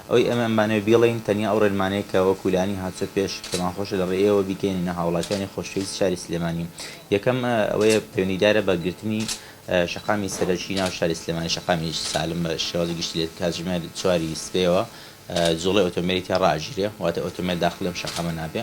ئەوەی ئێمەیان بانەوێت بیڵێین تەنیا ئەو ڕێنمانەیە کە وەکو لانی هاتووە پێش، پێمانخۆشە لە ڕێی ئێوە بیگەیەنینە هاوڵاتیانی خۆشەویست شاری سلێمانی. یەکەم، ئەوەیە پەیوەندیدارە بە گرتنی شەقامی سەرەکی ناو شاری سلێمانی، شەقامی سالم بە شێوازی گشتی لە کاتژمێر چواری سبەیەوە جوڵەی ئۆتۆمبێلی تیا ڕائەگیرێ، واتە ئۆتۆمبێل داخڵی ئەم شەقامە نابێ.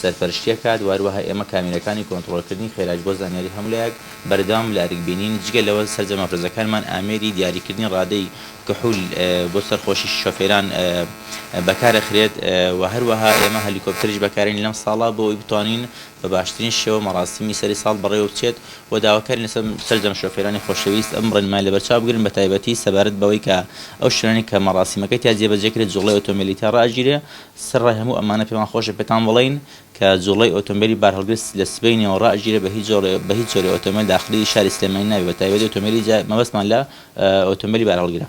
سەرپەرشتی ئەکات، وهەروەها ئێمە کامێرەکانی کۆنتڕۆڵکردنی خێراش بۆ زانیاری هەمولایەک بەردەوام لەئەرک بینین، جگە لەوە سەرجەم مەفرەزەکانمان ئامێری دیاریکردنی ڕادەی کحول بۆ سەرخۆشی شۆفێران بەکارئەخرێت و هەروەها ئێمە هەلیکۆپتەریش بەکارین لەم ساڵە بۆ ئەوەی بتوانین بەباشترین شێوە مەڕاسمی سەری ساڵ بەڕێوە بچێت و داواکارین لە سەرجەم شۆفێرانی خۆشەویست ئەم ڕێنمایە لەبەرچاو بگرن بەتایبەتی سەبارەت بەوەی کە ئەو شوێنانەی کە مەڕاسیمەکە تیا جێبەجێکرێت جوڵەی ئۆتۆمبێلی تیا ڕائەگیرێ سەرەڕای هەموو ئەمانە پێمان خۆشە پێتان بڵێین کە جووڵەی ئۆتۆمبێلی بارهەڵگر لە سبەینێوە ڕائەگیرێت بە هیچ بە هیچ جۆرێ ئۆتۆمبێل داخلی شاری سلێمانی نابێت بە تایبەتی ئۆتۆمبێلی جا مەبەستمان لە ئۆتۆمبێلی بارهەڵگرە.